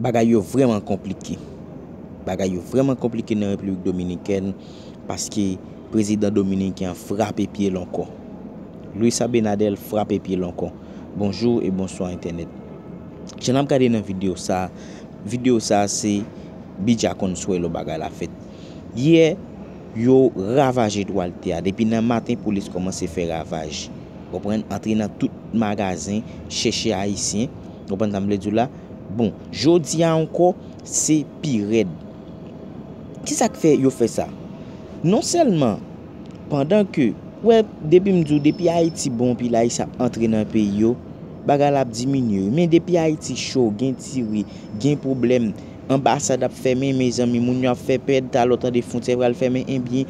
Bagay yo vrèman konplike. Bagay yo vrèman konplike nan Repiblik Dominikèn paske prezidan dominiken an frape pye l ankò. Luis Abinader frape pye l ankò. Bonjour et bonsoir internet. Jan nap gade nan video sa, video sa se Bidja Consuelo bagay la fèt. Yè yo ravaje Duarte a depi nan maten polis kòmanse fè ravaj. Konprann? Antre nan tout magazen chèche ayisyen. Nou konprann sa m vle di w la? Bon, jodi a ankò, se pi rèd. Ki sa k fè yo fè sa? Non sèlman, pandan ke, ou wè, depi m di w, depi Ayiti bon, pil Ayisyen ap antre nan peyi yo, bagay la ap diminye wi. Men depi Ayiti cho, gen tire, gen pwoblèm, anbasad ap fèmen, mezanmi, moun yo ap fè pèd talè w tande fwontyè pral fèmen, enbyen,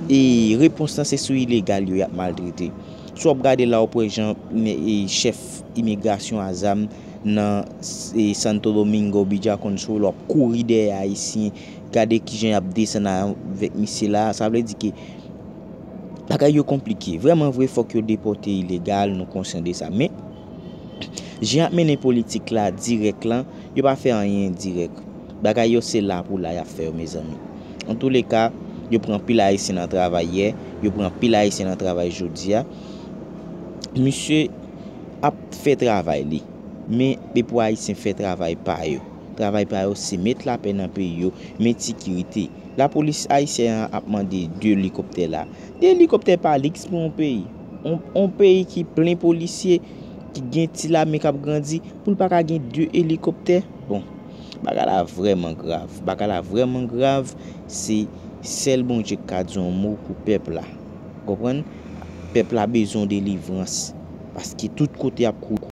e, repons lan se sou ilegal yo y ap maltrete. Si wap gade la wap wè jan chèf imigrasyon a zam nan Santo Domingo Beach a konn sou l wap kouri dèyè ayisyen gade kijan yap desann avèk misye la sa vle di ke bagay yo konplike vrèman vre fòk yo depòte ilegal nou konsyan de sa men Jan yap mennen politik la dirèk lan yo pa fè anyen endirèk bagay yo se la pou la yap fè yo mezanmi antoulèka yo pran anpil ayisyen nan travay yè yo pran anpil ayisyen nan travay jodia misye ap fè travay li men e pou ayisyen fè travay pa yo travay pa yo se met lapè nan peyi yo met sikirite lapolis ayisyen an ap mande 2 elikoptè la 2 elikoptè pa liks pou yon peyi. On peyi ki plen polisye, ki gen ti lame kap grandi, pou l pa ka gen 2 elikoptè? Bon, bagay la vrèman grav. Bagay la vrèman grav, se sèl Bondye k ka di on mo pou pèp la. Ou konprann? Pèp la bezwen on delivrans, paske tout kote ap kouri.